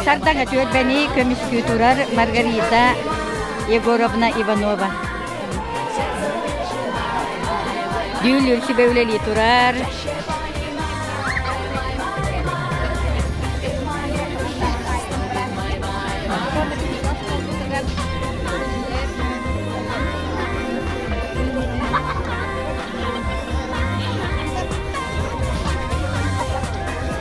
Сардаҥа түөлбэни көмүскүү турар Маргарита Егоровна Иванова. Дүүлүр сүбэ үлэлии турар.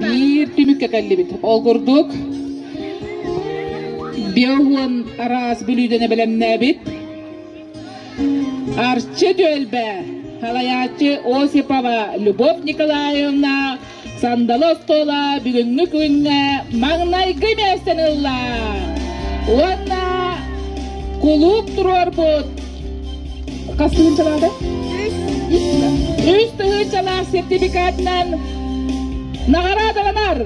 Биир түмүккэ кэллибит. Ол курдук Биоуон араас бүлүүдэни бэлэмнээбит. Арчы Дөлбө, салайааччы Осипова Любовь Николаевна, сандалы остуола бүгүҥҥү күҥҥэ маҥнайгы миэстэни ылла. Уонна кулууп туруорбут Хас тыһыынчалаата? Үс. Үс тыһыынчалаах сертификатынан наҕараадаланар.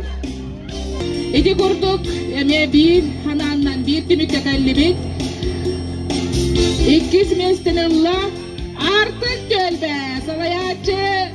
Ити курдук эмиэ биир ханааннан биир түмүккэ кэллибит. Иккис миэстэнэн ылла Артык Көлбө, салайааччы